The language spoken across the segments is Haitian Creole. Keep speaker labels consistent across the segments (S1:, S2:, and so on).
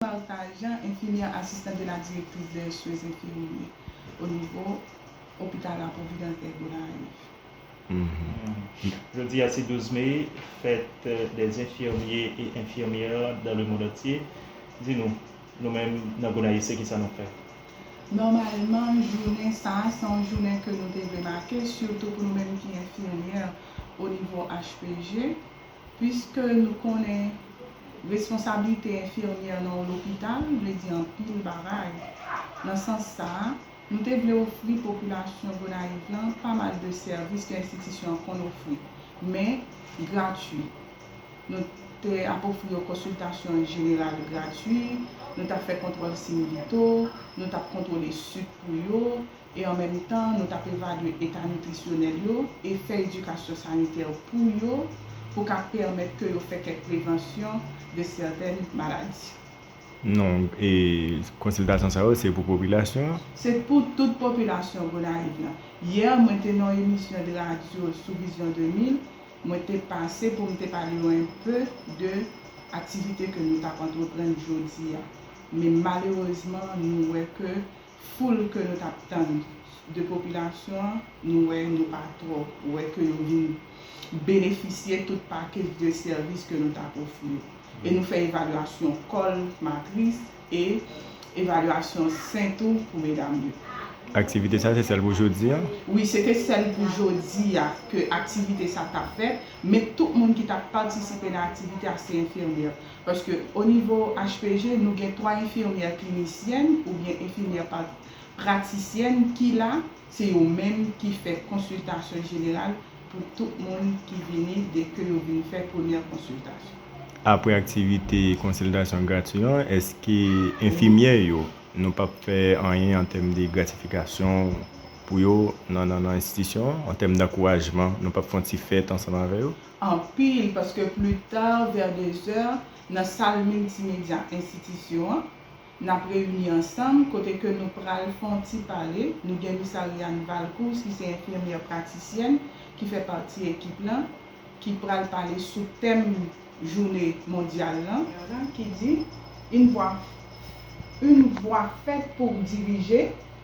S1: Val Tajan, enfimyè asistan de la direktris dè swen enfimyè o nivo opital la Pwovidans dè Gonayiv.
S2: Jodi a se 12 me, fèt dè enfimyè e enfimyè dan le mond antye. Di nou, nou menm nan Gonayiv se kisa nou fè? Nòmalman,
S1: jounen sa a se yon jounen ke nou te vle make, sitou pou nou menm ki enfimyè o nivo HPG. Piske nou konnen responsablite enfimyè nan yon lopital vle di anpil bagay. Nan sans sa, nou te vle ofri popilasyon Gonayiv lan pa mal de sèvis ke enstitisyon an konn ofri, men gratwi. Nou te ap ofri yo konsiltasyon jeneral gratwi, nou t ap fè kontwòl siyn vito, nou t ap kontwole sik pou yo, e an menm tan nou t ap evalye eta nitrisyonèl yo e fè edikasyon sanitè pou yo pou ka pèmèt ke yo fè kèk prevansyon de sètèn maladi. Non,
S3: e konsiltasyon sa yo se pou popilasyon an? Se pou tout
S1: popilasyon Gonayiv lan. Yè mwen te nan yon emisyon de radyo sou Vision 2000, mwen te pase pou m te pale yo en pe de aktivite ke nou t ap antreprann jodi a. Men malerezman nou wè ke foul ke nou tap tann de popilasyon an nou wè nou pa twò wè ke yo vin benefisye tout pakej de sèvis ke nou tap ofri yo e nou fè evalyasyon kòl matris e evalyasyon sen tou pou medam yo. Aktivite sa
S3: se sèl pou jodi a? Wi se te sèl
S1: pou jodi a ke aktivite sa tap fèt men tout moun ki tap patisipe nan aktivite a se enfimyè. Paske o nivo HPG nou gen 3 enfimyè klinisyèn oubyen enfimyè pratisyèn ki la, se yo menm ki fè konsiltasyon jeneral pou tout moun ki vini de ke yo vin fè premyè konsiltasyon. Apre
S3: aktivite konsiltasyon grati an, eske enfimyè yo nou pa p fè anyen an tèm de gratifikasyon pou yo nan enstitisyon an, an tèm dankourajman nou pa p fè yon ti fèt ansanm avè yo? anpil paske
S1: pli ta vè dezè nan sal miltimedya enstitisyon an nap reyini ansanm kote ke nou pral fè yon ti pale, nou gen Miss Ariane Valcourse ki se enfimyè pratisyèn ki fè pati ekip lan ki pral pale sou tèm joune mondyal lan ki di, Une voix fèt pou dirije.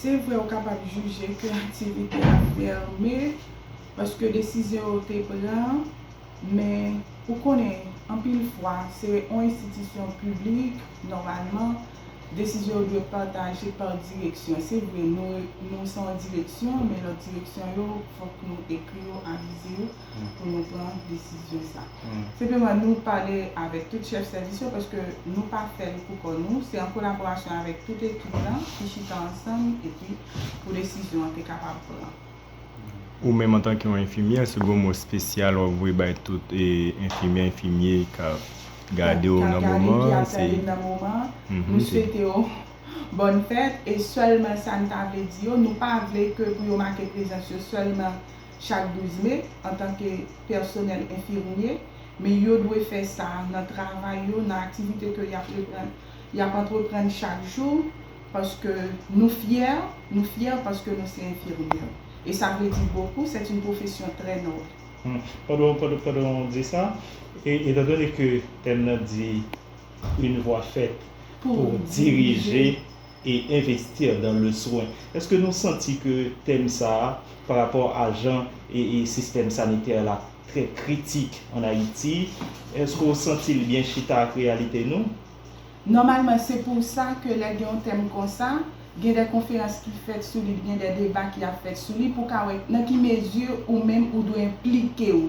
S2: Se vre
S1: ou kapab jije ke aktivite a fèmen paske desizyon yo te pran, men ou konnen anpil fwa se yon enstitisyon piblik, nòmalman, desizyon yo dwe pataje pa direksyon. Se vre nou se yon direksyon, men lòt direksyon yo fòk nou ekri yo, avize yo. pou nou pran desizyon sa. Senpleman nou pale avèk tout chèf sèvis yo paske nou pa fè l pou kò nou, se an kolaborasyon avèk tout ekip lan ki chita ansanm epi pou desizyon an te kapab pran. Ou menm
S3: antanke yon enfimyè, se gwo mo spesyal w ap voye bay tout enfimyè, enfimye k ap gade w nan moman an? K ap gade m, ki ap tande m nan moman an,
S1: nou swete yo bòn fèt e sèlman sa n ta vle di yo, nou pa vle ke pou yo make prezans yo sèlman. chak 12 me antanke pèsonèl enfimye, men yo dwe fè sa nan travay yo, nan aktivite ke y ap antreprann chak jou, paske nou fyè, nou fyè paske nou se enfimyè. Et ça veut dire beaucoup, c'est une profession très noble. Pandan w
S2: di sa, etan done ke tèm nan di, Une voix faite pour diriger. e investir dans le soin eske nou santi ke tèm sa a pa rapò a jan sistèm sanitè la trè kritik an Ayiti eske w santi l byen chita ak reyalite nou? Nòmalman
S1: se pou sa ke lè gen yon tèm konsa gen dè konferans ki fèt sou li gen dè deba ki ap fèt sou li pou w ka wè nan ki mezi ou menm ou dwe enplike w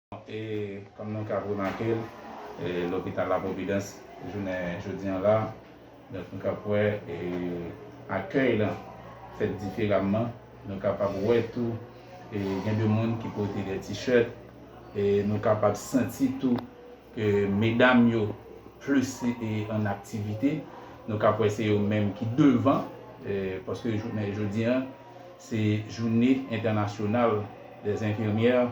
S4: E kòm nou kab remake l, lopital La Providence jounen jodi an la, donk nou kab wè akèy lan fèt diferamman. Nou kapab wè tou gen de moun ki pote de t-shirt e nou kapab santi tou ke medam yo plis an aktivite. Nou kab wè se yo menm ki devan paske jounen jodi an, Se joune entènasyonal dè enfimyè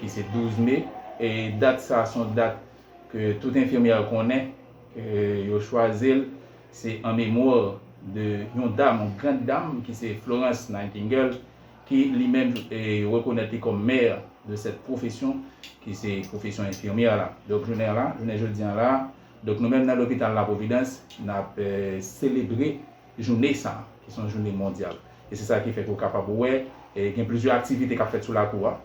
S4: ki se 12 me. E dat sa son dat ke tout enfimyè konnen ke yo chwazil se an memwa de yon dam, yon grand dam ki se Florence Nightingale ki li menm rekonèt li kòm mè de sèt pwofesyon ki se pwofesyon enfimyè la. Donk jounen la, jounen jodi an la, donk nou menm nan lopital la Providence nap selebre. jounen sa a, ki se yon jounen mondyal. E se sa ki fè ke ou kapab wè gen plizyè aktivite k ap fèt sou lakou a.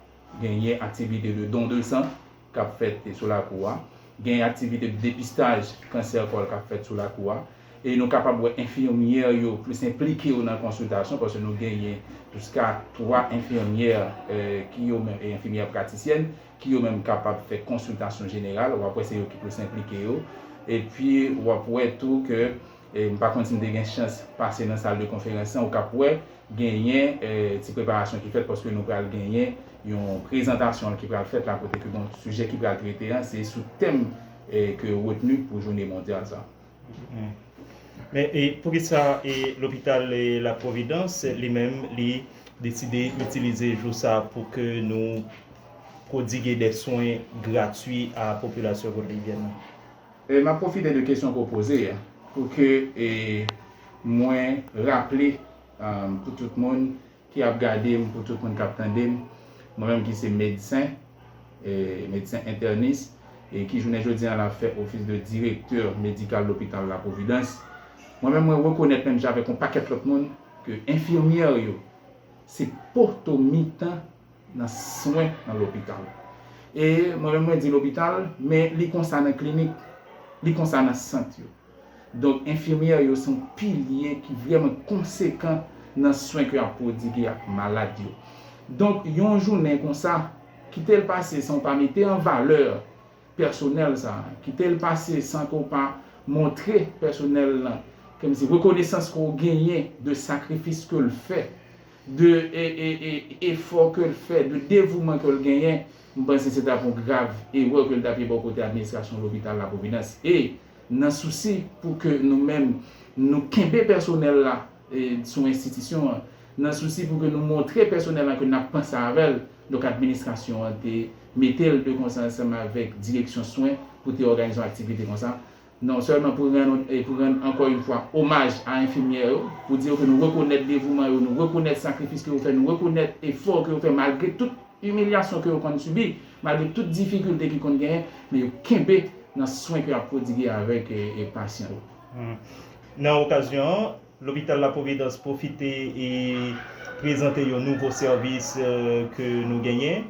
S4: Genyen aktivite de don de san k ap fèt sou lakou a. Genyen aktivite de depistaj kansè kòl k ap fèt sou lakou a. E nou kapab wè enfimyè yo plis enplike yo nan konsiltasyon, paske nou genyen jiska 3 enfimyè ki yo menm, enfimyè pratisyèn, ki yo menm kapab fè konsiltasyon jeneral. W ap wè se yo ki plis enplike yo. Epi w ap wè tou ke. M pa konn si m te gen chans pase nan sal de konferans lan, ou kap wè genyen ti preparasyon ki fèt paske nou pral genyen yon prezantasyon ki pral fèt la kote ke bon sijè ki pral trete an se sou tèm ke yo retni pou jounen mondyal sa a.
S2: Men poukisa lopital la providans li menm li deside itilize jou sa a pou ke nou pwodigue de swen gratwi a popilasyon Gonayivyèn lan? M ap
S4: pwofite de kesyon ke w poze a pou ke mwen raple pou tout moun ki ap gade m, pou tout moun k ap tande m, mwen menm ki se medsen, medsen entènis e ki jounen jodi a la fè ofis de direktè medikal lopital La Providence, mwen menm mwen rekonèt menm jan avèk yon pakèt lòt moun ke enfimyè yo se poto mitan. nan swen nan lopital. E mwen menm mwen di lopital, men li konsa nan klinik, li konsa nan sant yo. Donk enfimyè yo se yon pilye ki vrèman konsekan nan swen ke y ap pwodigue ak malad yo. Donk yon jounen konsa, kite l pase san w pa mete an valè, pèsonèl sa a. Kite l pase san ke w pa montre pèsonèl lan, kòmsi, rekonesans ke w genyen de sakrifis ke l fè, de efò ke l fè, de devouman ke l genyen, m panse se t ap yon grav erè ke l t ap ye bò kote administrasyon lopital La Providence. E, nan sousi pou ke nou menm nou kenbe pèsonèl la, sou enstitisyon an. Nan sousi pou ke nou montre pèsonèl lan ke n ap panse avè l, donk administrasyon an te mete l de konsa ansanm avèk direksyon swen pou te òganize yon aktivite konsa. Non sèlman pou rann pou rann ankò yon fwa omaj a enfimyè yo, pou di yo ke nou rekonèt devouman yo, nou rekonèt sakrifis ke yo fè, nou rekonèt efò ke yo fè malgre tout imilyasyon ke yo konn sibi, malgre tout difikilte ki konn genyen, men yo kenbe nan swen ke y ap pwodigue avèk pasyan yo.
S2: Nan okazyon an, Lopital La Providence pwofite prezante yon nouvo sèvis ke nou genyen.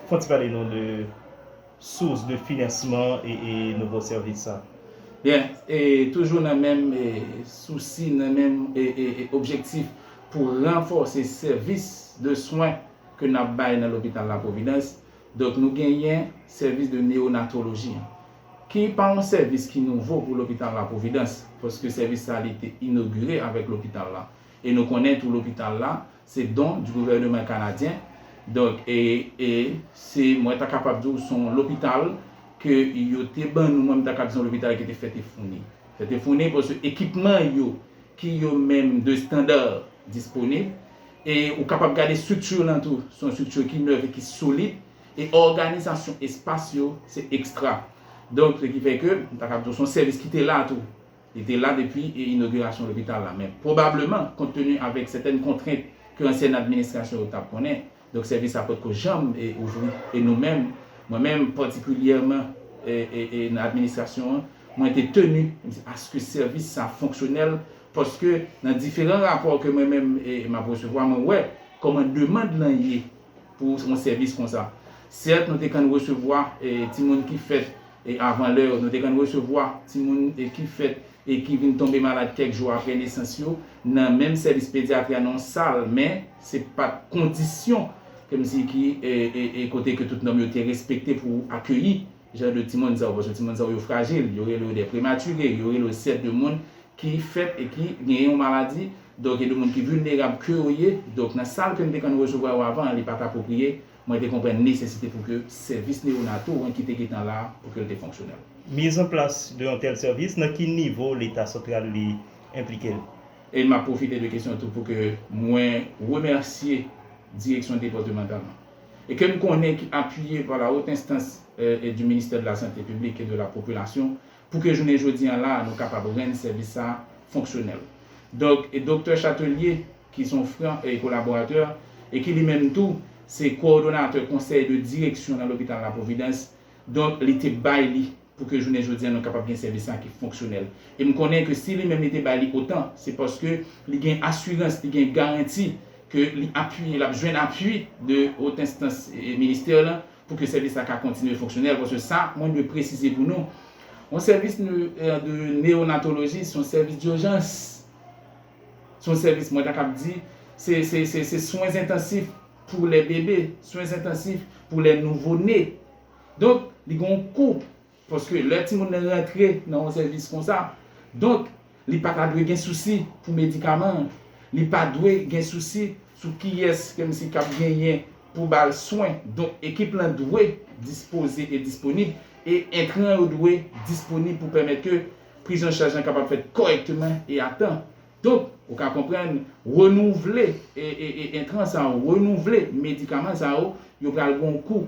S2: Fon ti pale nou de sous de finansman e nouvo sèvis sa. Byen,
S4: toujou nan menm sousi, nan menm objektif pou ranfòse sèvis de swen ke nap bay nan Lopital La Providence, donk nou genyen sèvis de neonatoloji. Ki pa yon sèvis ki nouvo pou lopital la Pwovidans, paske sèvis sa li te inogire avèk lopital la. E nou konnen tou lopital la, se don di gouvèneman Kanadyen, donk e, e, se, mwen ta kapab di w se yon lopital ke yo te ban nou, mwen m ta kab di se yon lopital ki te fè te founi. Fè te founi paske ekipman yo ki yo menm de standa disponib, e ou kapab gade strikti lan tou, se yon strikti ki nèf e ki solid, E òganizasyon espas yo se ekstra. Donk, se ki fè ke, m ta kab di w, se yon sèvis ki te la tou. Li te la depi inogirasyon lopital la. Men, pwobableman, kont teni avèk sètèn kontrent ke ansyèn administrasyon yo t ap konnen, donk sèvis sa pot ko janm ouvri. E nou menm, mwen menm patikilyèman, e nan administrasyon an, mwen te teni aske sèvis sa fonksyonèl, paske nan diferan rapò ke mwen menm m ap resevwa, mwen wè kòman demand lan ye. pou yon sèvis konsa. Sèt, nou te konn resevwa timoun ki fèt avan lè yo. Nou te konn resevwa timoun ki fèt e ki vin tonbe malad kèk jou apre nesans yo nan menm sèvis pedyatri a nan yon sal, men, se pa t kondisyon kòmsi ki kote ke tout nòm yo te respekte pou akeyi Jan de timoun sa yo, paske timoun sa yo yo frajil, yo rele yo des prématurés, yo rele yo sè de moun ki fèt e ki genyen yon maladi, donk e de moun ki vilnerab ke yo ye, donk nan sal ke m te konn resevwa yo avan an li pa t apwopriye, mwen te konprann nesesite pou ke sèvis neyonato an ki te gentan la a pou ke l te fonksyonèl. Mise en place
S2: de yon tèl sèvis, nan ki nivo Leta santral li enplike l? E m ap pwofite
S4: de kesyon tou pou ke mwen remèsye direksyon depàtemantal lan. e ke n konnen ki apiye pa la Haute Instance du Ministère de la Santé Publique et de la Population pou ke jounen jodi an la a nou kapab rann sèvis sa a fonksyonèl. Donk, Doktè Chatelier ki son fran e kolaboratè e ki li menm tou se kowòdonatè konsèy de direksyon nan lopital la Providence, donk li te bay li pou ke jounen jodi an nou kapab gen sèvis sa ki fonksyonèl. E m konnen ke si li menm li te bay li otan, se paske li gen asirans, li gen garanti ke li apiye, l ap jwenn apui de haute instance ministère lan pou ke sèvis sa ka kontinye fonksyonèl. Paske sa mwen dwe presize pou nou, yon sèvis de neonatoloji se yon sèvis dijans, se yon sèvis mwen ta kab di se swen zentasif pou lè bebe, swen zentasif pou lè nouvo ne. Donk, li gen yon kou. Paske lè timoun nan rantre nan yon sèvis konsa, donk, li pa ta dwe gen sousi pou medikaman an. Li pa dwe gen sousi sou kiyès ke misye kab genyen pou ba l swen. Donk, ekip lan dwe dispoze e disponib e entran yo dwe disponib pou pèmèt ke prizanchaj lan kapab fèt kòrèkteman e a tan. Donk, ou ka konprann, renouvle entran sa yo, renouvle medikaman sa yo, yo pral gen yon kou.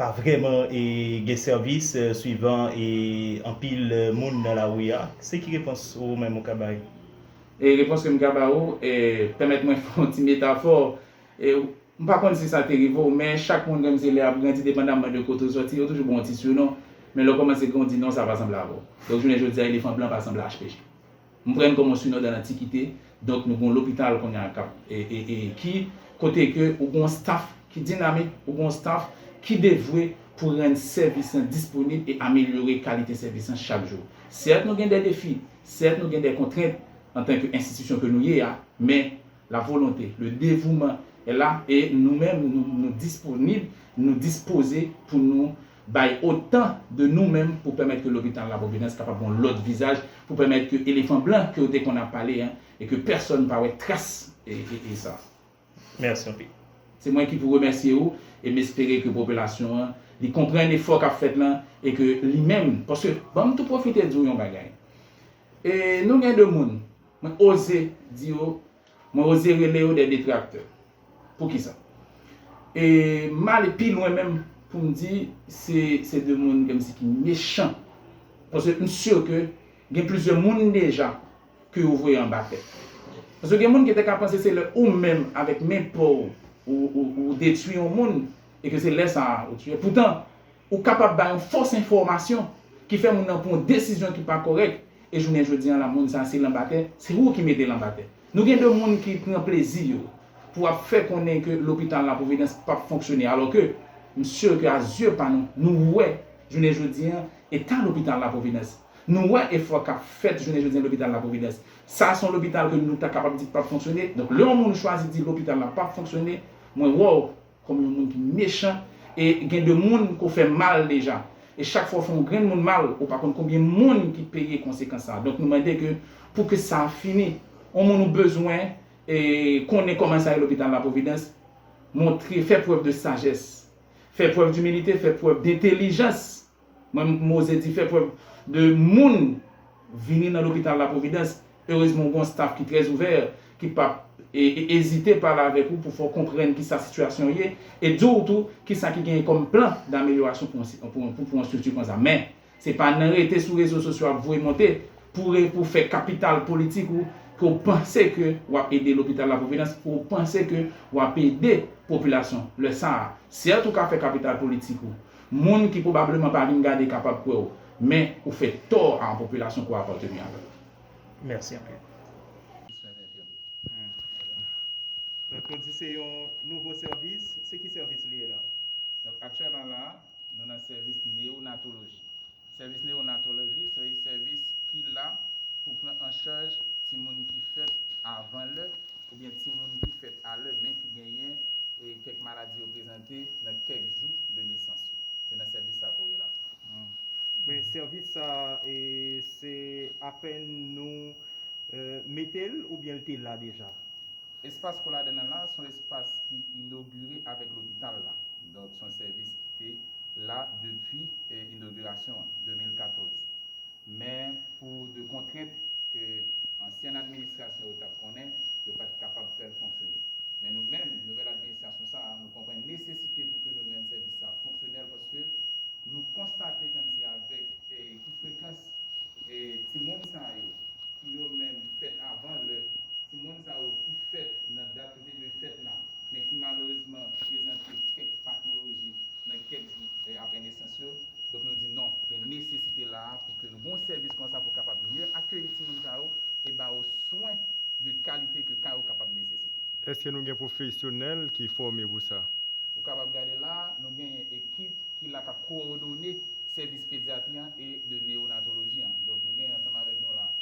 S2: pa vrèman gen sèvis swivan anpil moun nan lari a? Se ki repons ou menm ou ka bay? Repons
S4: ke m ka ba ou, pèmèt mwen fè yon ti metafò. M pa konn si sa te rive ou, men chak moun kòm se lè y ap grandi depandamman de kote ou sòti, yo toujou ba w yon ti sinon, men lè w kòmanse grandi non sa pa sanble avè w. Donk jounen jodi a elefan blan pa sanble HPJ. Mprenn koman sou nòd an antikite donk nou gon lopital kounya kap e ki kote ke ou gon staf ki dinamik ou gon staf ki devwe pou rann sèvis lan disponib e amelyore kalite sèvis lan chak jou sèt nou gen dè defi sèt nou gen dè kontrent antan ke enstitisyon ke nou ye a men la volonte le devouman è la e nou menm nou disponib nou dispoze pou nou bay otan de nou menm pou pèmèt ke lopital la Providence kapab gen yon lòt vizaj pou pèmèt ke elefan blan ke yo te konn ap pale an e ke pèsòn pa wè tras e sa. Mèsi
S2: anpil. Se mwen
S4: ki pou remèsye ou e m espere ke popilasyon an li konprann efò k ap fèt lan e ke li menm paske ban m tou pwofite di w yon bagay e nou gen de moun mwen oze di yo Mwen oze rele yo des detracteurs. Poukisa? E m ale pi lwen menm pou m di se se 2 moun ke m si ki mechan. Paske m sur ke gen plizyè moun deja ke yo voye anba tè. Paske gen moun ki te ka panse se lè ou menm avèk men pa w ou detwi yon moun e ke se lè sa a ou tuye. Poutan, Ou kapab bay yon fos enfomasyon ki fè moun nan pran yon desizyon ki pa korek e jounen jodi an la moun sa se l anba tè, se ou ki mete l anba tè. Nou gen de moun ki pran plezi yo pou ap fè konnen ke lopital la Providence pap fonksyone alo ke m sur ke a zye pa nou, nou wè jounen jodi an eta lopital la Providence. Nou wè efò kap fèt jounen jodi an lopital la Providence. Sa son lopital ke nou ta kapab di pap fonksyone. Donk lè yon moun chwazi di lopital la pap fonksyone, mwen wè w Kòm yon moun ki mechan e gen de moun ke w fè mal deja. E chak fwa w fè yon grenn moun mal, ou pa konn konbyen moun ki peye konsekans sa. Donk nou mande ke pou ke sa fini. Yon moun ou bezwen e konnen kòman sa ye lopital la Providence, montre, fè prèv de sajès. Fè prèv d'humilité, fè prèv d'entelijans. Mwen Mose di fè prèv de moun vini nan lopital la providence erezman ou gon staff ki trè ouvè ki pap ezite pale avèk ou pou fè w konprann kisa sitiyasyon w ye e di w tou kisa ki genyen kòm plan damelyorasyon pou yon strikti konsa men se pa nan rete sou rezo sosyo ap voye monte pou pou fè kapital politik ou ke w panse ke wap ede lopital la providence ou panse ke wap ede popilasyon lè sa a sèt ou ka fè kapital politik ou Moun ki pwobableman pa vin gade kapab kwè w, men ou fè tò a yon popilasyon ke w apateni avè l. Mèsi
S2: anpil. Donk nou di se yon nouvo sèvis, se ki sèvis li ye la? Donk aktyèlman
S4: la a, nou nan sèvis neyonatoloji. Sèvis Newonatoloji se yon sèvis ki la pou pran an chaj timoun ki fèt avan lè oubyen timoun ki fèt a lè men ki genyen kèk maladi yo prezante nan kèk jou de nesans yo. Se nan sèvis sa ke w ye la. Men
S2: sèvis sa se apèn nou mete l oubyen l te la deja? Espas
S4: Koladen an la se yon espas ki inogire avèk lopital la. Donk son sèvis ki te la depi inogirasyon an, 2014. Men pou de kontrent ke ansyen administrasyon yo tap konnen, yo pat kapab fèl fonksyone. Men nou menm, nouvèl administrasyon sa a, nou konprann nesesite pou ke nou rann sèvis sa a fonksyonèl paske nou konstate kòm si avèk ki frekans timoun sa yo ki yo menm fèt avan lè, timoun sa yo ki fèt nan dat. yo te dwe fèt la, men ki malerezman prezante kèk patoloji nan kèk jou aprè nesans yo, donk nou di non, gen nesesite la a pou ke nou gon sèvis konsa pou kapab mye akeyi timoun sa yo e ba yo swen de kalite ke ka yo kapab nesesite. Eske nou gen
S3: pwofesyonèl ki fòme pou sa? Ou kapab gade
S4: la a, nou genyen ekip ki la k ap kowòdone sèvis pedyatri an e de neyonatoloji an. Donk nou genyen ansanm avèk nou la a,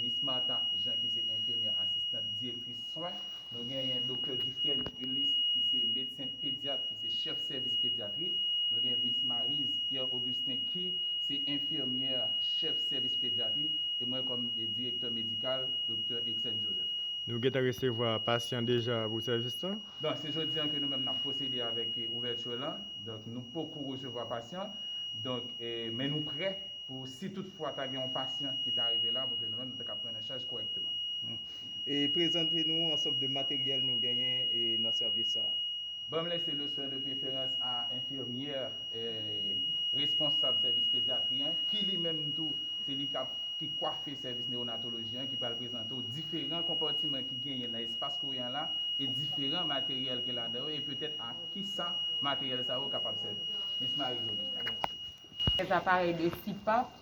S4: Miss Martha Jean ki se enfimyè asistant direktris. swen. Nou genyen Doktè Dufresne Ulysse ki se medsen pedyat, ki se chèf sèvis pedyatri. Nou gen Mis Maryse Pierre Augustin ki se enfimyè chèf sèvis pedyatri e mwen kòm direktè medikal, Doktè Exène Joseph. Nou gentan resevwa
S3: pasyan deja pou sèvis lan? Donk se jodi an ke
S4: nou menm n ap pwosede avèk ouvèti lan. Donk nou poko resevwa pasyan. Donk men nou prè pou si tout fwa ta gen yon pasyan ki ta rive la pou ke nou menm nou ta ka pran nan chaj kòrèkteman. E
S2: prezante nou ansanb de materyèl nou genyen e nan sèvis sa a. Banm lese le
S4: swen de preferans a enfirmyè e responsab sèvis pedyatri an, ki li menm tou se li kap ki kwafe sèvis newonatoloji an ki pral prezante w diferan konpatiman ki genyen nan espas kouran la e diferan materyèl ki ladan yo e petèt a ki sa materyèl sa yo kapab sèvi. Miss Marie-Augusta. Kèk
S5: aparèy de CPAP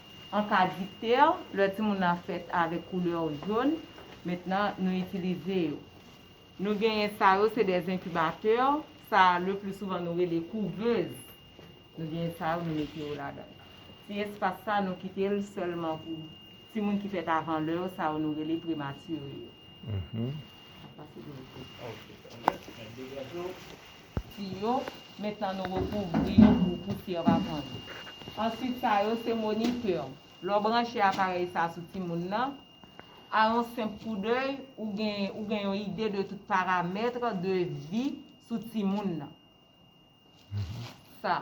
S5: An ka dikte, lè timoun nan fèt avèk koulè jòn, mentnan nou itilize yo. Nou genyen sa yo se dè enkibatè, sa le pli souvan nou rele kouvez. Nou genyen sa yo nou mete yo ladan. Ti espas sa nou kite l sèlman pou timoun ki fèt avan lè yo, sa yo nou rele prematire yo. Map pase pou nou. ti yo, mentnan nou rekouvri yo pou pousyè pa pran yo. Answit sa yo se monitè, lè w branche aparèy sa sou timoun nan, a yon senp koudèy ou gen ou gen yon ide de tout paramètre de vi sou timoun nan. Sa.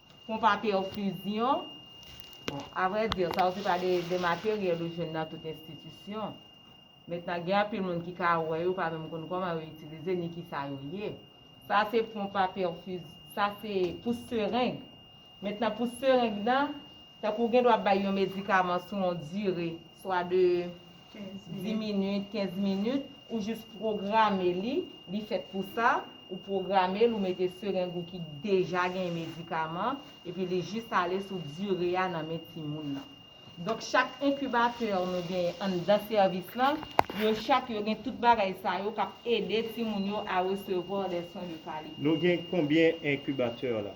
S5: Konpa pèfizyon, bon, avre di, sa yo se pa de materyèl ou jwenn nan tout enstitisyon. Mentnan gen anpil moun ki ka wè yo pa menm konn kòman yo itilize ni ki sa yo ye. Sa se konpa pèfiz, sa se pou sereng. Mentnan pou sereng nan, tankou gen dwa bay yon medikaman sou yon dire, swa de. 10 minit, 15 minit, ou jis pwograme li, li fèt pou sa, ou pwograme l, ou mete sereng ou ki deja gen medikaman, epi li jis ale sou dire a nan men timoun nan. Donk chak enkibatè nou gen anndan sèvis lan, yo chak yo gen tout bagay sa yo k ap ede timoun yo a resevwa de swen de kalite. Nou gen konbyen
S2: enkibatè la?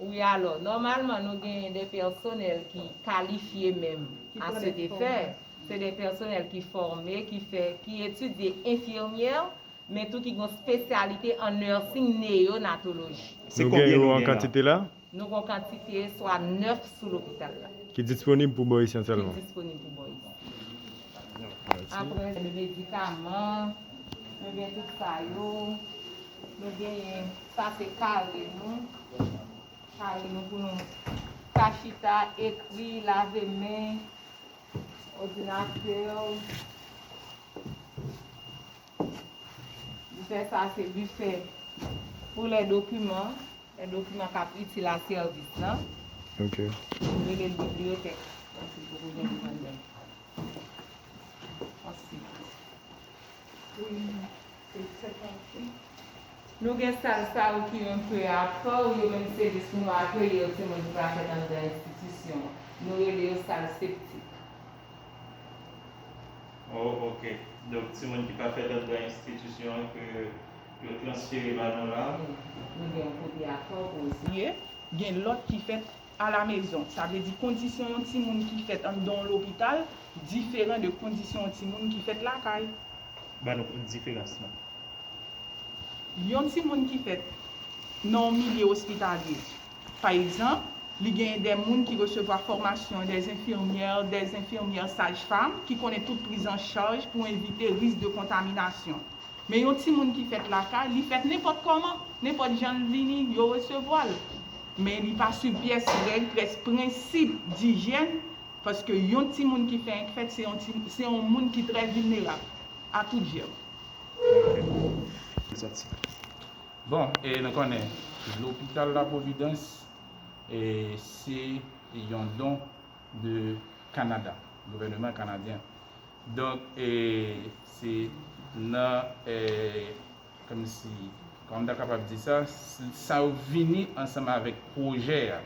S3: Wi alò,
S5: nòmalman nou genyen de pèsonèl ki kalifye menm a se de fè, se de pèsonèl ki fòme, ki fè, ki etidye enfimyè, men tou ki gon spesyalite an nursing neyonatoloji. Nou gen yo
S2: an kantite la?
S3: Nou
S2: gon
S3: kantite
S5: swa 9 sou lopital la. Ki disponib pou Bò
S3: Isyan sèlman? Ki disponib pou
S5: Bò
S3: Isyan.
S5: Aprè, medikaman, nou gen tout sa yo. Nou genyen sa se kare nou. Kare nou pou nou ka chita, ekri, lave men, odinatè ou. Bifè sa se bifè pou lè dokiman, lè dokiman k ap itil a sèvis la. Ok.
S3: Yo rele l
S5: bibliyotèk. Ansi pou pou gen li anndan. Ansi. Pou li. Se tèt anfle. Nou gen sal sa yo ki yon peu apaw yo menm se lis nou akeye yo ti moun ki pa fèt anndan enstitisyon an. Nou rele yo sal septik.
S2: Oh ok. Donk ti moun ki pa fèt anndan enstitisyon an ke yo transfere ba nou la. Nou
S5: gen yon kote apaw pou yo siye, gen lòt
S1: ki fèt. a la mezon, sa vle di kondisyon yon timoun ki fèt anndan yon lopital diferan de kondisyon yon timoun ki fèt lakay. Ba nou
S2: diferans lan.
S1: Yon timoun ki fèt nan yon milye ospitalye, pa egzanp, li genyen de moun ki resevwa fòmasyon, de enfimyè, de enfimyè sajfam ki konnen tout prizanchaj pou evite risk de kontaminasyon. Men yon timoun ki fèt lakay, li fèt nenpòt kòman, nenpòt jan l vini, yo resevwa l. Men li pa swiv pyès règ, pyès prensip dijyèn, paske yon timoun ki fè enkfèt se yon ti se yon moun ki trè vilnerab a tout jèm.
S4: Bon, e nou konnen lopital la Pwovidans e se yon don de Kanada, gouvèneman kanadyen. Donk e se nan e. Kòmsi, kòman m ta kapab di sa, sa yo vini ansanm avèk pwojè a.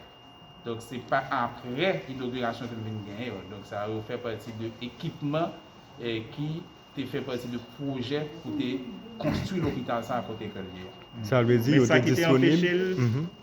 S4: Donk se pa aprè inogirasyon ke m vin gen yo. Donk sa yo fè pati de ekipman ki te fè pati de pwojè pou te konstwi lopital sa a kote ke l ye. Sa vle di yo te
S3: disponib.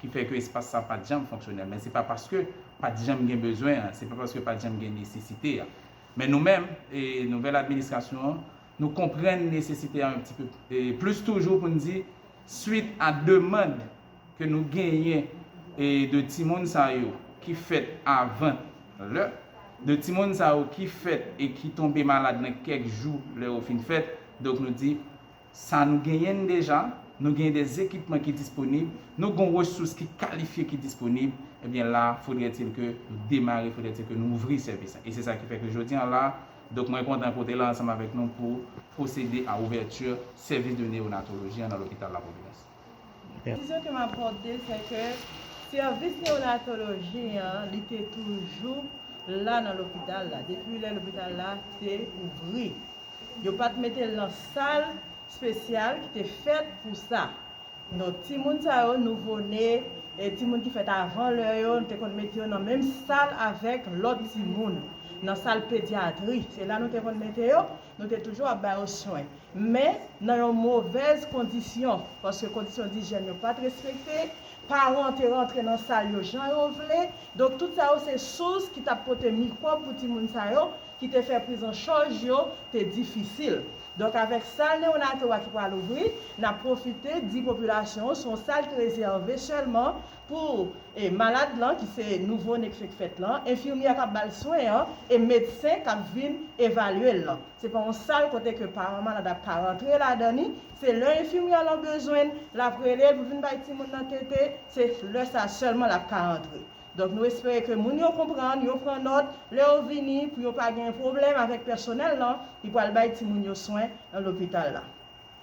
S4: ki fè ke espas sa pat janm fonksyonèl men se pa paske pat janm gen bezwen an, se pa paske pat janm gen nesesite a. Men nou menm, e nouvèl administrasyon an, nou konprann nesesite a yon ti pe plis toujou pou n di swit a demand ke nou genyen e de timoun sa yo ki fèt avan lè, de timoun sa yo ki fèt e ki tonbe malad nan kèk jou lè yo fin fèt, donk nou di. sa nou genyen n deja, nou genyen des ekipman ki disponib, nou gon resous ki kalifye ki disponib, ebyen la fodrètil ke nou demare, fodrètil ke nou ouvri sèvis la. E se sa ki fè ke jodi an la, donk mwen kontan pote la ansanm avèk nou pou pwosede a ouvèti sèvis de neyonatoloji an nan lopital la Pwovidans. Konklizyon ke
S6: m ap pote se ke sèvis newonatoloji an li te toujou la nan lopital la depi lè lopital la te ouvri. Yo pa t mete l nan sal spesyal ki te fèt pou sa. Donk timoun sa yo, nouvo ne, timoun ki fèt avan lè yo, nou te konn mete yo nan menm sal avèk lòt timoun, nan sal pedyatri. Se la nou te konn mete yo. Nou te toujou ap ba yo swen, men nan yon movèz kondisyon, paske kondisyon dijyèn yo pa t respekte, paran te rantre nan sal yo jan yo vle, donk tout sa yo se sous ki t ap pote mikwòb pou timoun sa yo, ki te fè prizanchaj yo te difisil. Donk avèk sal neonato a ki pral ouvri, n ap pwofite di popilasyon an se yon sal ki rezève sèlman, Pou malad lan ki se nouvone k fenk fèt lan, enfimyè a k ap ba l swen an e medsen k ap vin evalye l lan. Se pa yon sal kote ke paran malad ap ka rantre ladan ni. Se lè enfimyè lan bezwen l, l ap rele l pou vin bay timoun nan tete, se lè sa sèlman l ap ka antre. Donk nou espere ke moun yo konprann, yo pran nòt, lè yo vini pou yo pa gen pwoblèm avèk pèsonèl lan ki pral bay timoun yo swen nan lopital la.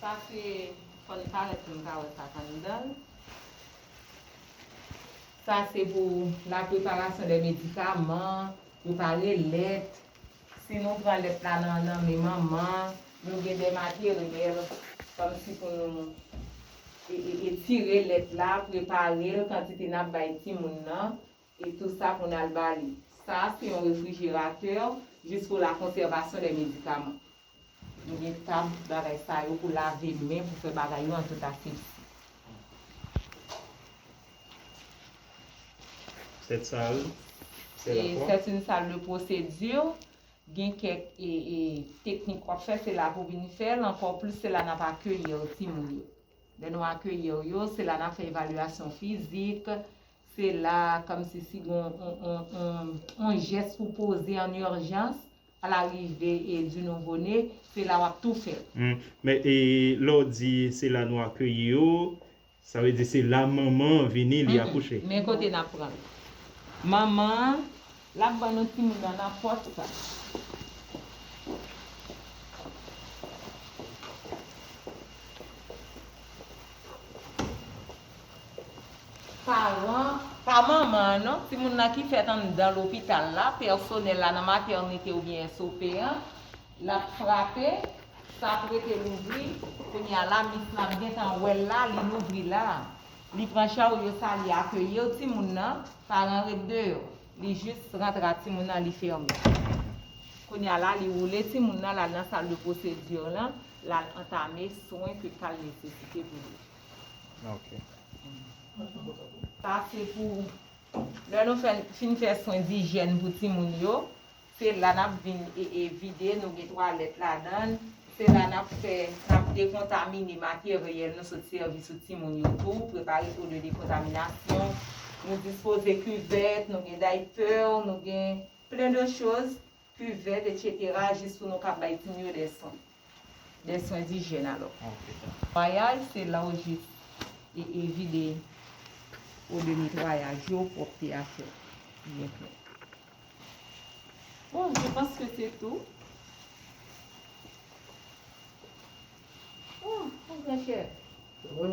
S5: Sa se fò li parèt pou nou ka wè sak anndan l. Sa se pou la preparasyon de medikaman, prepare lèt. Si nou pran lèt la nan nan men manman, nou gen de materyèl kòm si pou nou etire lèt la, prepare l kantite n ap bay timoun nan. E tou sa pou n al ba li. Sa a se yon refrijeratè jis pou la konsèvasyon dè medikaman. Nou gen tab bagay sa yo pou lave men, pou fè bagay yo an tout asepsi.
S2: Sèt sal, sèt la fwa. Sèt yn sal de
S5: pwosedi. Gen kèk teknik w ap fè, se la pou vin fè l. Ankò plis se la n ap akeyir timoun yo. Lè nou akeyir yo, se la n ap fè evalyasyon fizik, Se la a kòmsi si gon on jès pou poze an urjans a la rive e du nouveau né, se la wap tou fè l. Hum men e
S2: lè w di se la nou akeyi yo, sa vle di se la manman an vini li akouche? Men kote nap pran l.
S5: Manman an lap ban nou timoun nan nan pòt sa. paran, pa manman an non, timoun nan ki fèt anndan lopital la, pèsonèl la nan matènite oubyen SOP an, l ap frape, sa ap rete louvri, kounye a la, mis la ap gentan wè l la, li louvri la. Li pran charyo sa, li akeyir timoun nan, paran an ret deyò. Li jis rantre ak timoun nan, li fèmen. Kounye a la, li woule timoun nan, l al nan sal de pwosedir lan, l al antame swen ke ka l nesesite pou li.
S3: Sa
S5: se pou lè nou fin fè swen dijyèn pou timoun yo, se la nap vin vide, nou gen twalèt ladan, se la nap fè, nap dekontamine materyèl nou sot sèvi sou timoun yo tou, prepare pou de dekontaminasyon, nou dispoze kivèt, nou gen daypè, nou gen plen de choz Kivèt etc jis pou nou ka bay timoun yo dè swen. Dè swen dijyèn alò. Netwayaj se la ou jis e e vide ou de netwayaj yo pwòpte a fèt byen klè. Bon je panc ke se tou. Oh oh gran chè.
S4: Sa vre.